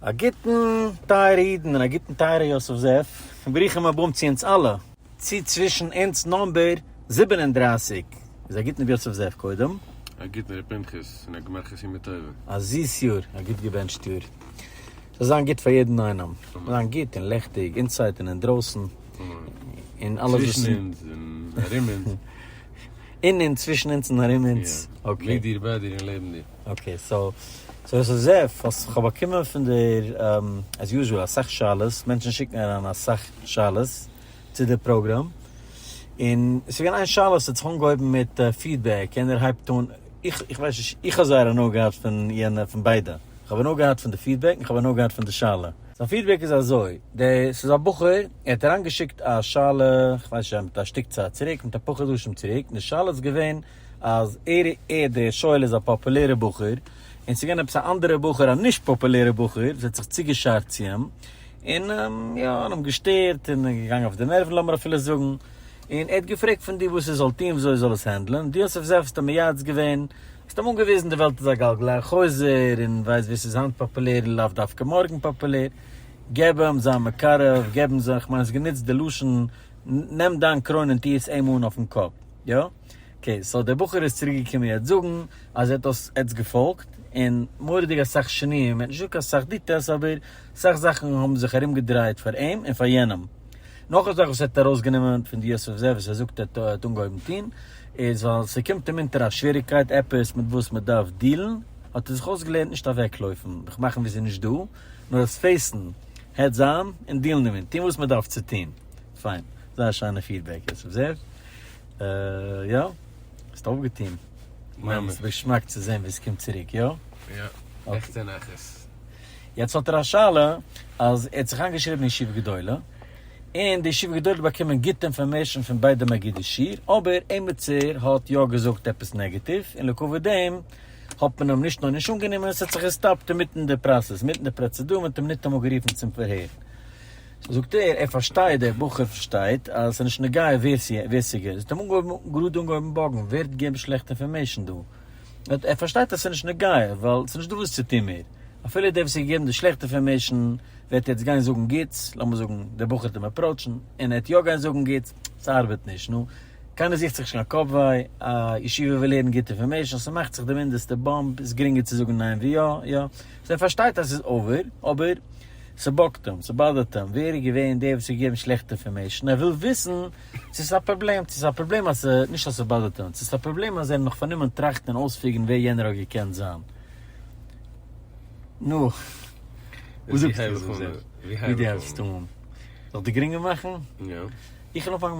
א גוטן טייערע אידן און א גוטן טייערע יוסף זאב, און ברוכים הבאים צו אונז אלע, צו צווישן אונז נאמבער זיבן און דרײַסיק, איז א גוטן ר' יוסף זאב קודם. א גוטן ר' פנחס און א גמר חתימה טובה. א זיס יאר, א גוט געבענטשט יאר, זאל זיין גוט פאר יעדן איינעם, זאל זיין גוט און לעכטיג אינסייד און אינדרויסן, און אלעס וואס צווישן אונז און ארום אונז. אין אונז, צווישן אונז און ארום אונז, אקעי. מיט דיר, ביי דיר און לעבן דיר. אקעי סאו סאו עס איז עפ אז כ'האב באקומען פון דער עז יוזשעל אסאך שאלות, מענטשן שיקן אריין אסאך שאלות צו די פראגראם, און עס איז געווען איין שאלה וואס האט זיך אנגעהויבן מיט פידבעק, יענער הייבט אן, איך איך ווייס נישט, איך האב זייער הנאה געהאט פון יענע פון ביידע, איך האב הנאה געהאט פון די פידבעק און איך האב הנאה געהאט פון די שאלה. זיין פידבעק איז אזוי, דער ס'איז א בחור ער האט אריינגעשיקט א שאלה, כ'ווייס נישט אויב מיט א שטיק צייט צוריק, מיט אפאר חדשים צוריק, און די שאלה איז געווען, אז ער ער דער שואל איז א פאפולערע בחור און ס'געווען עפעס א אנדערע בחור א נישט פאפולערע בחור וואס האט זיך צוגעשארט צו אים און יא און אים געשטערט און געגאנגען אויף די נערוון לאמיר אפילו זאגן און ער האט געפרעגט פון דיר וואס ער זאל טון וויאזוי ער זאל עס הענדלען דו האסט אויף זיי האסטו מייעץ געווען האסט אים אנגעוויזן די וועלט איז א גלגל החוזר און ווייסט ווער ס'איז היינט פאפולער איז לאו דווקא מארגן פאפולער געב אים זיין מקרב געב אים זיין כ'מיין האסט גענוצט די לשון נעם דיין קרוין און טוה עס אים אן אויפן קאפ יא. אקעי סאו דער בחור איז צוריק געקומען יעצט זאגן אז ער האט דאס עטס געפאלגט און מורא'דיג אסאך שינויים ער האט נישט געזאגט אסאך דיטעלס אבער אסאך זאכן האבן זיך ארום געדרייט פאר אים און פאר יענעם. נאך א זאך וואס ער האט ארויס גענומען פון די יוסף זאב וואס ער זאגט ער האט אנגעהויבן טון איז ווייל ס'קומט אים אונטער א שוועריקייט עפעס מיט וואס מ'דארף דילן האט ער זיך אויס געלערנט נישט אוועק לויפן זיך מאכן ווי ס'איז נישט דא נאר עס פעיסן העדס אן און דילן דערמיט טון וואס מ'דארף צו טון פיין זייער שיינע פידבעק יוסף זאב. יא, האסט אויפגעטוהן. ממש. ס'איז געשמאק צו זעהן ווי ס'קומט צוריק, יא? יא, עכטע נחת. יעצט האט ער א שאלה, אז ער האט זיך איינגעשריבן אין ישיבה גדולה, און די ישיבה גדולה האט באקומען גוטע אינפארמעישאן פון ביידע מגידי שיעור, אבער עימיצער האט יא געזאגט עפעס נעגעטיוו, און לעקאוויט דעם האט מען אים נישט נאר נישט אנגענומען, ס'האט זיך געסטאפט אינמיטן די פראסעס, אינמיטן די פראצעדור, מ'האט אים ניטאמאל גערופן צום פארהער. סאו זאגט ער, ער פארשטייט, דער בחור פארשטייט, אז ס'איז נישט נוגע ווער ווער ס'געט, זאגט אים אנגעהויבן, גראד אנגעהויבן באגן, ווער האט געגעבן שלעכטע אינפארמעישן דא? ער האט ער פארשטייט אז ס'איז נישט נוגע, ווייל ס'איז נישט דא וואס צו טון מער, אפילו דער וואס האט געגעבן די שלעכטע אינפארמעישן וועט יעצט גיין זאגן גוטס, לאמיר זאגן דער בחור האט אים עפראוטשן, און ער וועט יא גיין זאגן גוטס, ס'ארבעט נישט, נו, קיינער זוכט זיך נישט קיין קאפ וויי, א ישיבה וויל הערן גוטע אינפארמעישן, ס'מאכט זיך די מינדעסטע באמפ, איז גרינגער צו זאגן ניין ווי יא, יא, סאו ער פארשטייט אז ס'איז אווער, אבער. ס'באגט אים, ס'באדערט אים, ווער איז געווען דער וואס האט געגעבן שלעכטע אינפארמעישן, ער וויל וויסן צו ס'איז א פראבלעם, צו ס'איז א פראבלעם אז ס', נישט אז ס'באדערט אים, צו ס'איז א פראבלעם אז ער איז נאך פארנומען טראכטן און אויספיגערן ווער יענער האט געקענט זיין. נו, וואס זאגסטו איך זאל זאגן? ווי דו העלפסט אן? זאל איך דיר גרינגער מאכן? יא. איך וועל אנפאנגען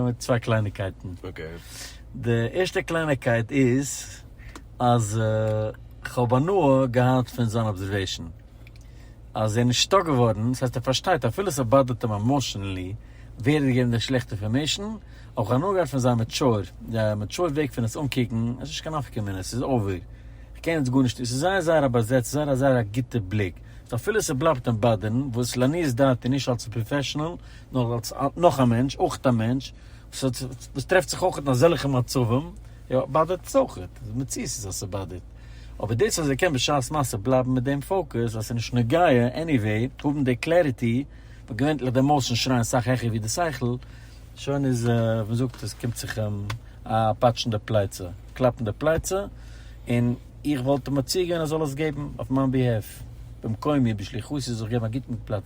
מיט צוויי קלייניגקייטן. אקעי. די ערשטע קלייניגקייט איז אז כ'האב הנאה געהאט פון זיין אבזערוועישן. אז ער איז נישטא געווארן, דאס הייסט ער פארשטייט אפילו עס באדערט אים עמאושענלי ווער ער האט געגעבן די שלעכטע אינפארמעישן, אויך הנאה געהאט פון זיין מעטשור, מעטשור וועג פון עס אנקוקן, עס איז נישט קיין נפקא מינה, עס איז אווער, איך קען יעצט גארנישט, עס איז זייער זייער א באזעצט, זייער א זייער א גוטע בליק, סאו אפילו עס בלייבט אים באדערן, וואס לעניות דעתי נישט אלץ א פראפעשענעל, נאר אלץ נאך א מענטש, אויך א מענטש, ס'וואס טרעפט זיך אויך אין אזעלכע מצבים, יא, באדערט עס אויך, די מציאות איז אז ס'באדערט, אבער דאס אז ער קען בשעת מעשה בלייבן מיט דעם פאוקוס אז ס'איז נישט נוגע, עניוועי, האבן די קלעריטי, וואס געווענטליך די עמאושענס שרייען סאך העכער ווי די שכל, שוין איז, ווי מ'זאגט, עס קומט זיך אים א פאטש אין די פלייצע, קלאפ אין די פלייצע, און איך וואלט אים מציע געווען ער זאל עס געבן אויף מיין ביהעף, במקומי, בשליחותי זיך געבן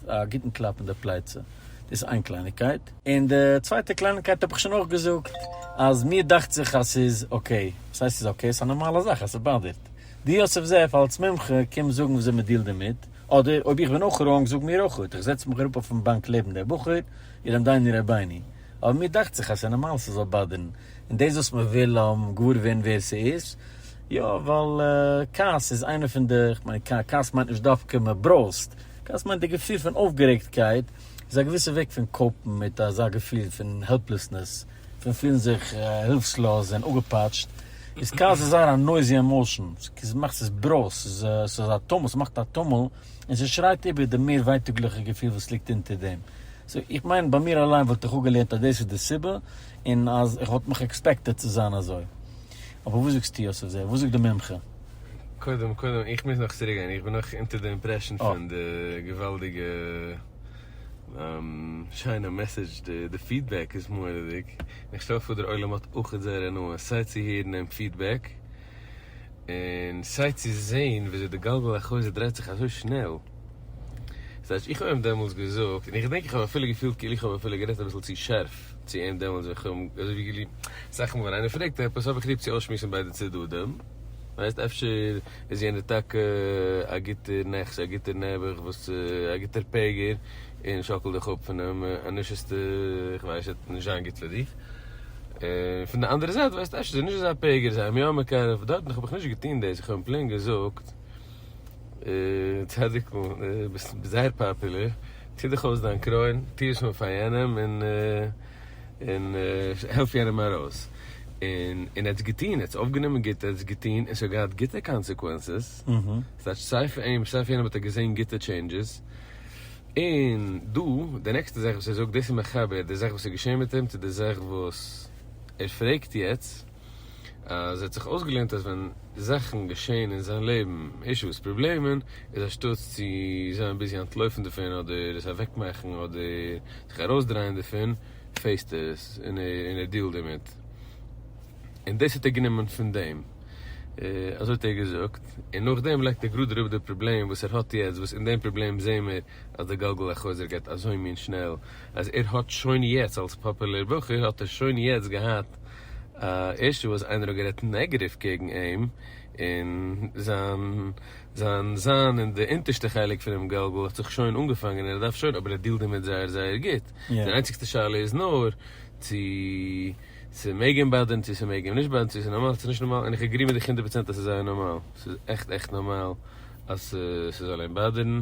א גוטן קלאפ אין די פלייצע. דאס איז איין קלייניגקייט. און די צווייטע קלייניגקייט האב איך שוין אויך געזאגט, אז מיר דאכט זיך אז ס'איז אקעי. וואס הייסט ס'איז אקעי? ס'איז א נארמאלע זאך אז ס'באדערט. דו יוסף זאב אלס מומחה קום זאגן וויאזוי מ'דילט דערמיט, אדער אויב איך בין אויך ראונג זאג מיר אויך אוט. איך זעץ מיך אראפ אויפן באנק לעבן דער בחור, אילם דייני רבייני. אבער מיר דאכט זיך אז ס'איז נארמאל ס'זאל באדערן. און דאס וואס מ'וויל געוואר ווערן ווער ס'איז, יא, ווייל כעס איז איינע פון די, כ'מיין כעס מיינט נישט דווקא מ'ברויזט, דאס מיינט די געפיל פון אויפגערעגטקייט איז א געוויסע וועג פון קאופן מיט אזא געפיל פון העלפלעסנעס, פון פילן זיך הילפסלאז און אפגעפאטשט. איז כעס איז זייער א נויזי עמאושען, ס'איז מאכט ס'איז ברויז, ס'איז ס'איז א טומל, ס'מאכט א טומל, און ס'שרייט איבער די מער ווייטאגליכע געפיל וואס ליגט אונטער דעם. סאו איך מיין ביי מיר אליין וואלט איך אפגעלערנט אז דאס איז די סיבה, און אז איך וואלט מיך עקספעקטעד צו זיין אזוי. אבער וואס זאגסטו יוסף זעהר? וואס זאגט די מומחה? קודם קודם איך מוז נאך צוריק גיין איך בין נאך אונטער די אימפרעשן פון די געוואלדיגע שיינע מעסעדזש די פידבעק איז מוראדיג און איך שטעל פאר דער עולם האט אויכעט זייער הנאה סיי צו הערן דעם פידבעק און סיי צו זעהן ווי אזוי די גלגל החוזר דרייט זיך אזוי שנעל זייט איך האב אים דעמאלטס געזאגט און איך דענק איך האב אפילו געפילט כאילו איך האב אפילו גערעדט אביסל צו שארף. צו אים דעמאלטס ווען כ'האב אים אזויווי געליבט. סך הכל ווען איינער פרעגט עפעס האב איך ליב צו אויסשמועסן ביידע צדדים. ווייסט, אפשר איז יענער טאקע א גוטער נחש, א גוטער נעבעך וואס צו, א גוטער פעגער, און שאקל דיך אפ פונעם אנוש'סטע, כ'ווייס נישט, וועט נישט זיין גוט פאר דיך. און פון די אנדערע זייט ווייסט, אפשר איז ער נישט אזא פעגער, זיי האבן אים יא מקרב, דארטן האב איך נישט געטון דאס, איך האב אים פלעין געזאגט. צדיק'ל, ביסט זייער פאפולער, טוה דיך אויס דיין קרוין, טוה שמע פאר יענעם און העלף יענעם ארויס. און ער האט עס געטון, ער האט עס אויפגענומען גוט, ער האט עס געטון און עס האט געהאט גוטע קאנסעקווענסעס, ס'הייסט אז סיי פאר אים סיי פאר יענעם האט ער געזען גוטע טשעינדזשעס. און דא, די נעקסטע זאך וואס ער זאגט, דאס איז מחבר די זאך וואס איז געשען מיט אים צו די זאך וואס ער פרעגט יעצט. אז ער האט זיך אויסגעלערנט אז ווען זאכן געשעהן אין זיין לעבן, אישוס, פראבלעמען, איז אנשטאטס צו זיין ביזי אנטלויפן דערפון אדער עס אוועקמאכן אדער זיך ארויסדרייען דערפון, פעיסט עס און ער דיעלט דערמיט. און דאס האט ער גענומען פון דעם. אזוי האט ער געזאגט. און נאכדעם לייגט ער גראד אראפ די פראבלעם וואס ער האט יעצט, וואס אין דעם פראבלעם זעהן מיר אז די גלגל החוזר גייט אזוי מין שנעל, אז ער האט שוין יעצט אלס פאפולער בחור האט ער שוין יעצט געהאט, ערשט וואס איינער האט גערעדט נעגעטיוו קעגן אים און זיין זיין זיין אין די אונטערשטע חלק פונעם גלגל האט זיך שוין אנגעפאנגען ער דארף שוין אבער ער דילט דערמיט זייער זייער גוט די איינציגסטע שאלה איז נאר צו ס'מעג אים באדערן צו ס'מעג אים נישט באדערן צו ס'איז נארמאל צו ס'איז נישט נארמאל און איך עגרי מיט דיך הונדערט פראצענט אז ס'איז זייער נארמאל ס'איז עכט עכט נארמאל אז ס'זאל אים באדערן.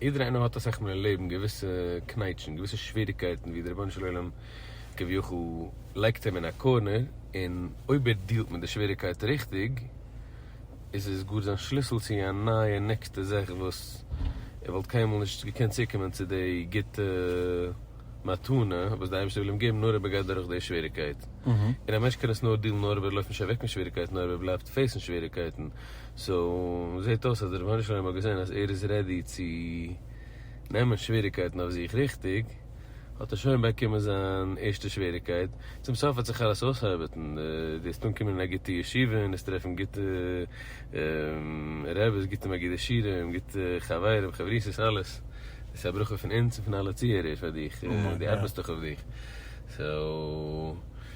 יעדער איינער האט אסאך מאל אין לעבן געוויסע קנייטשן, געוויסע שוועריגקייטן ווי די רבונו של עולם כביכול לייגט אים אין א קארנער, און אויב ער דיעלט מיט די שוועריגקייט ריכטיג, איז עס גאר זיין שליסל צו א נייע נעקסטע זאך וואס ער וואלט קיינמאל נישט געקענט צוקומען צו די גוטע מתנה וואס די אייבערשטער וויל אים געבן נאר אויב ער גייט דורך די שוועריגקייט. און א מענטש קען עס נאר דיעלן נאר אויב ער לויפט נישט אוועק פון שוועריגקייטן, נאר אויב ער בלייבט פעיסן שוועריגקייטן. סאו זעט אויס אז די רבונו של עולם האט געזען אז ער איז רעדי צו נעמען שוועריקייטן אויף זיך ריכטיג, האט ער שוין באקומען זיין ערשטע שוועריקייט, צום סוף האט זיך אלעס אויסארבעטן, די וועסט אנקומען אין א גוטע ישיבה און וועסט טרעפן גוטע רעבעס, גוטע מגידי שירים, גוטע חברים, חברותות, אלעס, דאס איז א ברכה פון אונז און פון אלע צוהערער פאר דיך, די ארבעסט דאך אויף דיך, סאו.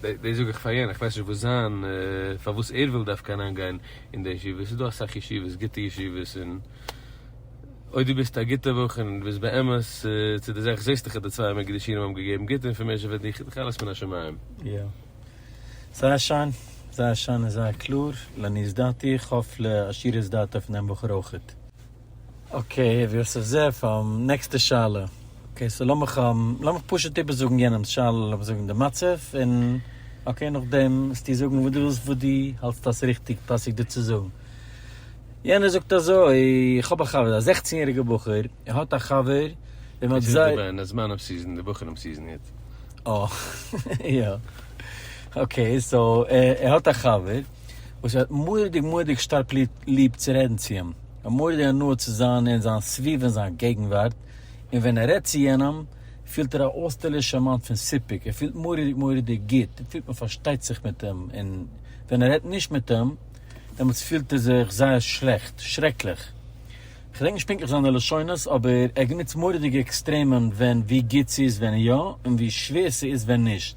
דאס זאג איך פאר יענער, איך ווייס נישט וואס זיין, פארוואס ער וויל דווקא אריינגיין אין די ישיבה, עס איז דא אסאך ישיבות, גוטע ישיבות, און אויב דו ביסט א גוטער בחור און דו ביסט באמת צו די זאך, זעסט דאך אז די צוויי אמער געדעשינים האבן געגעבן גוטע אינפארמעישאן פאר דיך, איז דאך אלעס מן השמים. יא. זייער שיין, זייער שיין און זייער קלאר, לעניות דעתי, איך האף לעשירות דעתו פון דעם בחור אויכעט. אקעי ר' יוסף זאב, נעקסטע שאלה. אקעי סאו לאמיך לאמיך פשוט איבערזאגן יענעמ'ס שאלה, לאמיך זאגן די מצב, און אקעי נאכדעם וועסטו זאגן וואס דו ווילסט וואס דו האלטסט אז ס'ריכטיג פאסיג דא צו זאגן. יענער זאגט אזוי, איך האב א חבר, א זעכצן יעריגער בחור, ער האט א חבר וועם מ'האט זייער. דאס איז געווען זמן אף סיזען, די בחורים סיזען היט. אה יא. אקעי סאו ער האט א חבר. וואס ער האט מורא'דיג מורא'דיג שטארק ליב צו רעדן צו אים, ער האט מורא'דיג הנאה צו זיין אין זיין סביבה און זיין געגנווארט, און ווען ער רעדט צו יענעם פילט ער א אויסטערלישע מאמענט פון סיפוק, ער פילט מורא'דיג מורא'דיג גוט, ער פילט מען פארשטייט זיך מיט אים, און ווען ער רעדט נישט מיט אים, דעמאלטס פילט ער זיך זייער שלעכט, שרעקליך. כ'דענק נישט פונקטליך זיינע לשונות, אבער ער גענוצט מורא'דיגע עקסטרעמען ווען ווי גוט ס'איז ווען יא, און ווי שווער ס'איז ווען נישט.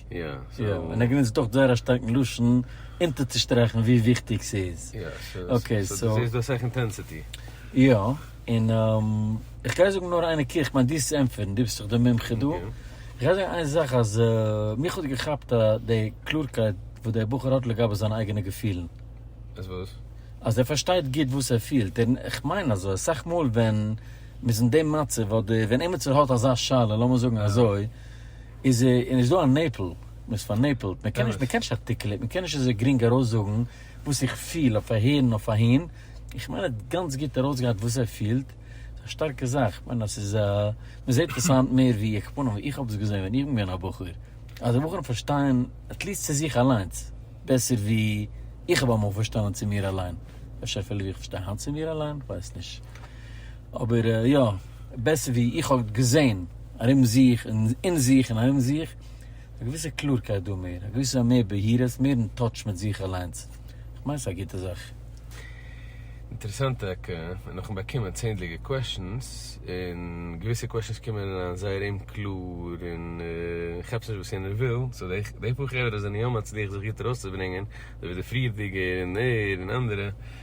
יא, יא, און ער גענוצט אויך זייער א שטארקן לשון אונטערצושטרעכן ווי וויכטיג ס'איז. יא, אקעי, סאו. דו זעסט דא אסאך אינטענסיטי. יא, און איך גיי זאגן נאר איין נקודה, איך מיין דו זאלסט ענטפערן, דו ביסט דאך די מומחה דא. איך גיי זאגן איין זאך אז מיך האט געכאפט די קלארקייט וואס דער בחור האט לגבי זיינע אייגענע געפילן. אז וואס? אז ער פארשטייט גוט וואס ער פילט. איך מיין אז אסאך מאל ווען מ'איז אין די מצב, אדער ווען עימיצער האט אזא שאלה, לאמיר זאגן אזוי, איז נישט דא א נעפל? מען איז פארנעפלט, מען קען נישט, מען קען נישט ארטיקעלעט, מען קען נישט אזוי גרינג ארויסזאגן וואס איך פיל אויף אהער און אויף אהין, איך מיין ער האט גאנץ גוט ארויסגעהאט וואס ער פילט, ס'איז א שטארקע זאך, איך מיין אז ס'איז א, מען זעט עס היינט מער ווי איך פנים, ווי איך האב עס געזען ווען איך בין געווען א בחור, אז בחורים פארשטייען עטליעסט צו זיך אליינס בעסער ווי איך האב אמאל פארשטאנען צו מיר אליין, אפשר אפילו ווי איך פארשטיי היינט צו מיר אליין, כ'ווייס נישט. אבער יא, בעסער ווי איך האב געזען ארום זיך און אין זיך און ארום זיך, איז א געוויסע קלארקייט דא מער, א געוויסע מער בהירות, מער אין טאטש מיט זיך אליינס, איך מיין ס'איז א גוטע זאך. אינטערעסאנט טאקע, און נאכן באקומען צענדליגע קוועשאנס, און געוויסע קוועשאנס קומען אריין זייער אומקלאר און כאפסט נישט וואס יענער וויל, סאו די פאר חברה זענען יא מצליח זיך גוט ארויסצוברענגען, אזוי ווי די פריערדיגע און ער און אנדערע.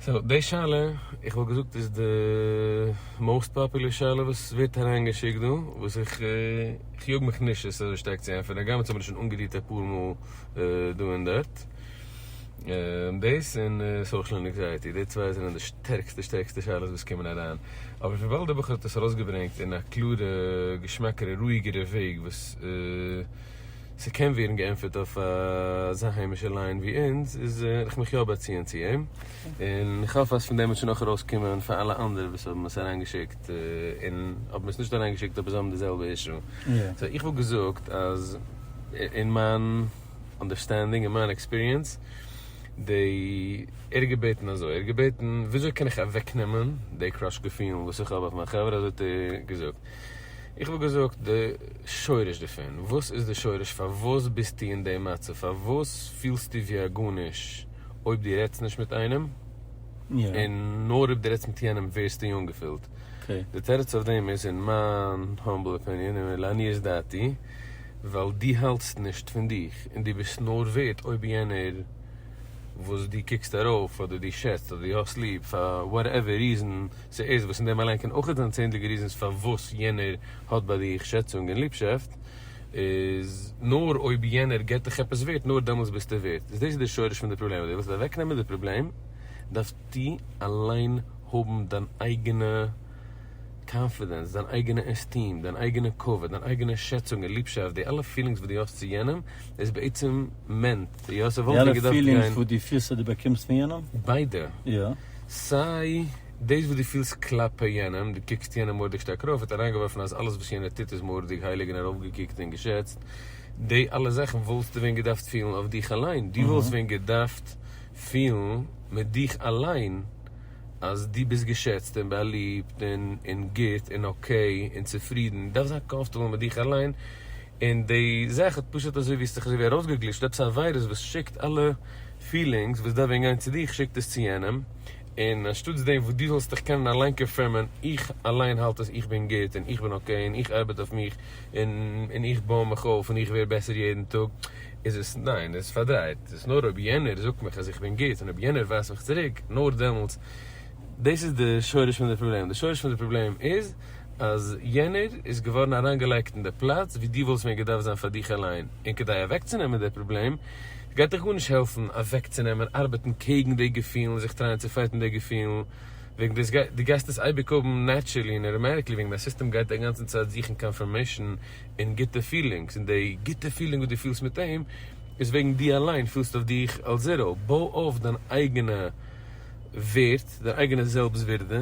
סאו די שאלה, איך וואלט געזאגט איז די מאוסט פאפולער שאלה וואס ווערט אריינגעשיקט דא, וואס איך יאג מיך נישט עס אזוי שטארק צו ענטפערן, הגם עס האט מיר שוין אנגערירט אפאר מאל דא און דארט. דאס און סאושעל ענקזייעטי, די צוויי זענען די שטערקסטע שטערקסטע שאלות וואס קומען אריין. אבער וויבאלד די בחור האט עס ארויסגעברענגט אין א קלארע, געשמאקערע, רואיגערע וועג וואס. ס'קען ווערן געענטפערט אויף אזא היימישע ליין ווי אונז, איז איך מיך יא באציען צו אים, און איך האף אז פון דעם וועט שוין אויך ארויס קומען פאר אלע אנדערע וואס האבן עס אריין געשיקט, און האבן עס נישט אריין געשיקט אבער זיי האבן די זעלבע אישו. סאו איך וואלט געזאגט אז אין מיין אנדערסטענדינג, אין מיין עקספיריענס, די ער האט געבעטן אזוי, ער האט געבעטן וויאזוי קען איך אוועקנעמען די קראש געפילן וואס איך האב אויף מיין חברה, אזוי האט ער געזאגט, איך וואלט געזאגט די שורש דערפון, וואס איז די שורש פארוואס ביסטו אין די מצב, פארוואס פילסטו ווי א גארנישט אויב דו רעדסט נישט מיט איינעם, און נאר אויב דו רעדסט מיט יענעם ווערסטו אנגעפילט, די תירוץ אויף דעם איז אין מיין האמבל אפיניען און לעניות דעתי ווייל דו האלטסט נישט פון דיך, און דו ביסט נאר ווערד אויב יענער וואס דו קוקסט ארויף אדער דו שעצט אדער דו האסט ליב פאר וואטעווער ריזען ס'איז וואס אין דעם אליין קען אויך זיין צענדליגע ריזענס פארוואס יענער האט ביי דיך שעצונג און ליבשאפט, איז נאר אויב יענער גיבט דיך עפעס ווערט נאר דעמאלטס ביסטו ווערט, איז דאס איז די שורש פון די פראבלעם, אויב די ווילסט אוועקנעמען די פראבלעם דארפסטו אליין האבן דיין אייגענע קאנפידענס, דיין אייגענע עסטיעם, דיין אייגענע כבוד, דיין אייגענע שעצונג און ליבשאפט, די אלע פילינגס וואס די האסט צו יענעם איז בעצם מענט, די אלע פילינגס וואס די פירסט אז די באקומסט פון יענעם? ביידע. יא. סיי דאס וואס דו פילסט כלפי יענעם, דו קוקסט יענעם מורא'דיג שטארק ארויף, האט אריינגעווארפן אז אלעס וואס יענער טוט איז מורא'דיג הייליג און ארויפגעקוקט און געשעצט, די אלע זאכן וואלסטו ווען געדארפט פילן אויף דיך אליין, דו וואלסט ווען געדארפט פילן מיט דיך אליין אז דו ביסט געשעצט און באליבט און גוט און אקעי און צופרידן, דו דארפסט זיין קאמפארטעבל מיט דיך אליין, און די זאך האט פשוט אזוי ווי עס האט זיך אזוי ווי ארויסגעגליטשט עפעס א וויירוס וואס שיקט אלע פילינגס וואס דארף ווען גיין צו דיך שיקט עס צו יענעם, און אנשטאטס דעם וואס דו זאלסט דיך קענען אליין קאנפירמען איך אליין האלט עס איך בין גוט און איך בין אקעי און איך ארבעט אויף מיך און איך בוי מיך אויף און איך ווער בעסער יעדן טאג איז עס ניין עס איז פארדרייט עס איז נאר אויב יענער זאגט מיך אז איך בין גוט און אויב יענער ווייזט מיך צוריק נאר דעמאלטס דאס איז די שורש פון די פראבלעם די שורש פון די פראבלעם איז. אז יענער איז געווארן אריינגעלייגט אין די פלאץ ווי דו וואלסט מיר געדארפט זיין פאר דיך אליין, און כדי אוועקצונעמען די פראבלעם גייט דיך גארנישט העלפן אוועקצונעמען, ארבעטן קעגן די געפילן, זיך טרייען צו פייטן די געפילן, וועגן דאס גייט, דו גייסט עס אייביג האבן נעטשערלי און אוטאמעטיקלי וועגן דיין סיסטעם גייט די גאנצע צייט זוכן קאנפירמעישן אין גוטע פילינגס, און די גוטע פילינג וואס דו פילסט מיט אים איז וועגן דו אליין פילסט אויף דיך אלס זיראו, בוי אויף דיין אייגענע ווערד, דיין אייגענע זעלבסט ווירדע.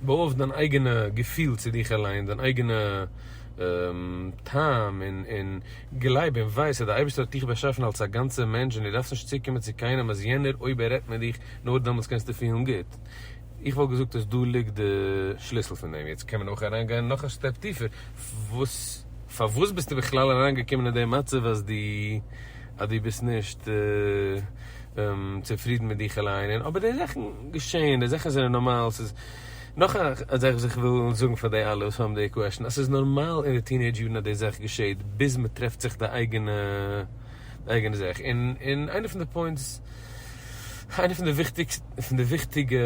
ברויכסט דיין אייגענע געפיל צו דיך אליין, דיין אייגענע טעם, און גלייב און ווייס אז די אייבערשטער האט דיך באשאפן אלס א גאנצער מענטש און די דארפסט נישט צוקומען צו קיינעם אז יענער אויב ער רעדט מיט דיך נאר דעמאלטס קענסטו פילן גוט. איך וואלט געזאגט אז דא ליגט די שליסל פון דעם. יעצט קען מען אויך אריין גיין נאך א סטעפ טיפער, וואס פארוואס ביסטו בכלל אריין געקומען אין די מצב אז דו. אז דו ביסט נישט צופרידן מיט דיך אליין און אבער די זאכן געשעהן די זאכן זענען נארמאל ס'איז נאך א זאך וואס איך וויל זאגן פאר די אלע וואס האבן די קוועשן אז ס'איז נארמאל אין די טינעידזש יארן אז די זאך געשעהט ביז מ'טרעפט זיך די אייגענע די אייגענע זאך און און איינע פון די פוינטס איינע פון די פון די וויכטיגע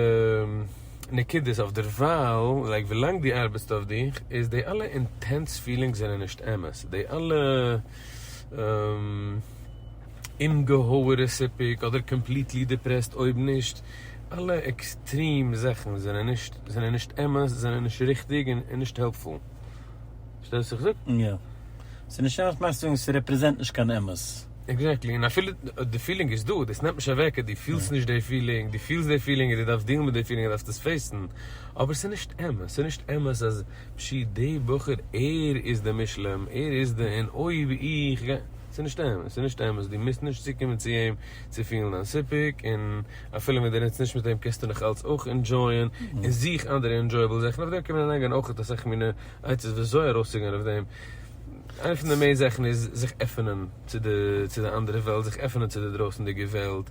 נקודות אויף דערווייל לייק ווילאנג דו ארבעטסט אויף דיך איז די אלע אינטענס פילינגס זענען נישט אמת די אלע. אומגעהויערע סיפוק אדער קאמפליטלי דיפרעסט אויב נישט אלע עקסטרים זאכן זענען נישט זענען נישט אמת זענען נישט ריכטיג און נישט העלפפול פארשטייסט וואס איך זאג? יא. ס'איז נישט אמת מיינסטו זאגן ס'רעפרעזענט נישט קיין אמת. עקזעקטלי, און אפילו די פילינג איז דא, דאס נעמט נישט אוועק אז דו פילסט נישט די פילינג, דו פילסט די פילינג און דו דארפסט דילן מיט די פילינג און דארפסט עס פעיסן, אבער ס'איז נישט אמת, ס'איז נישט אמת אז. פשי די בחור ער איז די מושלם ער איז די און אויב איך גיי ס'איז נישט אמת ס'איז נישט אמת דו מוזט נישט צוקומען צו אים צו פילן דיין סיפוק און אפילו ווען דו רעדסט נישט מיט אים קענסטו נאך אלץ אויך אינדזשויען און זוך אנדערע אינדזשויעבל זאכן אויף דעם קען מען אריינגיין אויכעט אסאך מינע עצות וויאזוי ארויסצוגיין אויף דעם איינע פון די מעין זאכן איז זיך עפענען צו די צו די אנדערע וועלט זיך עפענען צו די דרויסענדיגע וועלט.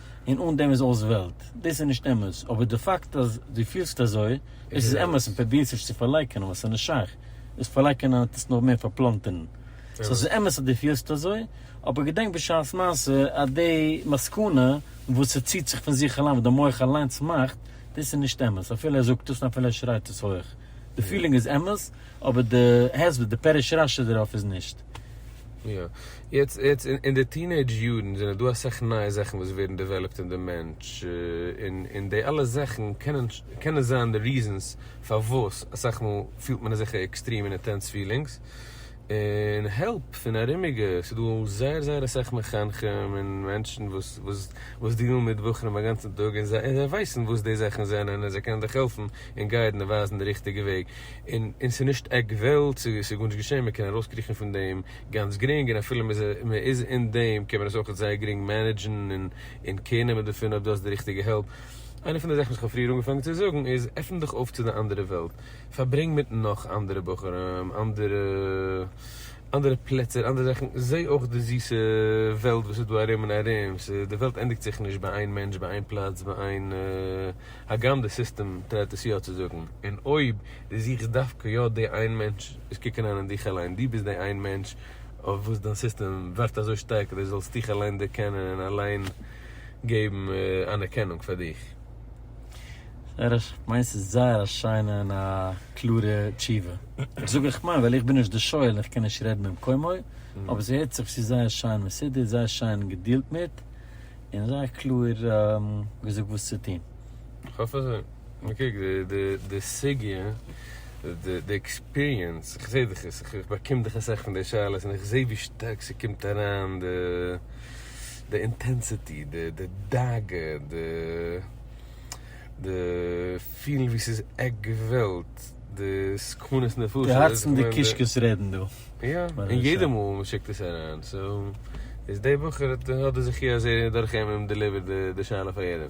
און אן דעם איז אויס וועלט. דאס איז נישט אמת, אבער די פאקט אז דו פילסט אזוי, דאס איז אמת און פרובירסט נישט צו פארלייקענען ווייל ס'איז נישט שייך, דאס פארלייקענען וועט עס נאר מער פארפלאנטערן. סאו ס'איז אמת אז דו פילסט אזוי, אבער געדענק בשעת מעשה אז די מסקנא וואס ס'ציט זיך פון זיך אליין וואס די מח אליינס מאכט, דאס איז נישט אמת, אפילו ער זאגט עס און אפילו ער שרייט עס הויך. די פילינג איז אמת, אבער די הסבר, די פירוש רשי דערויף איז נישט. יעצט יעצט אין די טינעידזש יארן זענען דא אסאך נייע זאכן וואס ווערן דעוועלאפט אין די מענטש, און און די אלע זאכן קענען קענען זיין די ריזענס פארוואס אסאך מאל פילט מען אזעלכע עקסטרים און אינטענס פילינגס, און העלפ פון ארומיגע, ס'דא זייער זייער אסאך מחנכים און מענטשן וואס וואס וואס דיעלן מיט בחורים אגאנצן טאג און זיי זיי ווייסן וואס די זאכן זענען און זיי קענען דיך העלפן און גיידן און ווייזן די ריכטיגע וועג, און און ס'נישט עק וועלט, ס'איז גארנישט געשען, מ'קען ארויסקריכן פון דעם, גאנץ גרינג און אפילו מען איז אין דעם קען מען עס אויך זייער גרינג מענעדזשן און קעיר נעמען דערפון אויב דו האסט די ריכטיגע העלפ. איינע פון די זאכן וואס איך האב פריער אנגעפאנגען צו זאגן איז עפן דיך אויף צו די אנדערע וועלט, פארברענג מיט נאך אנדערע בחורים, אנדערע אנדערע פלעצער, אנדערע זאכן, זע אויך די זיסע וועלט וואס איז דא ארום און ארום, די וועלט ענדיגט זיך נישט ביי איין מענטש ביי איין פלאץ ביי איין הגם די סיסטעם טרייט עס יא צו זאגן און אויב דו זוכסט דווקא יא די איין מענטש, איז קוק אריין אין דיך אליין, דו ביסט די איין מענטש אויף וואס דיין סיסטעם ווערט אזוי שטארק אז דו זאלסט דיך אליין דערקענען און אליין געבן אנערקענונג פאר דיך. זייער א, מיינס איז זייער א שיינע און א קלארע תשובה. איך זאג איך מיין ווייל איך בין נישט די שואל און איך קען נישט רעדן במקומו, אבער ס'הערט זיך צו זייער שיין מסודר, זייער שיין געדילט מיט, און זייער קלאר געזאגט וואס צו טון. כ'האף אזוי. נו קוק, די סוגיא, די עקספיריענס, איך זעה דאך עס, איך באקום דאך אסאך פון די שאלות און איך זעה ווי שטארק ס'קומט אריין די אינטענסיטי, די דאגה, די פילן ווי ס'איז עק געוועלט, די סכנות נפשות. די הארצן די קישקעס רעדן דא. יא, און יעדע מאל מען שיקט עס אריין, סאו איז די בחור האט די זכי' אז ער דורך אים דעליווערט די שאלה פאר יעדעם.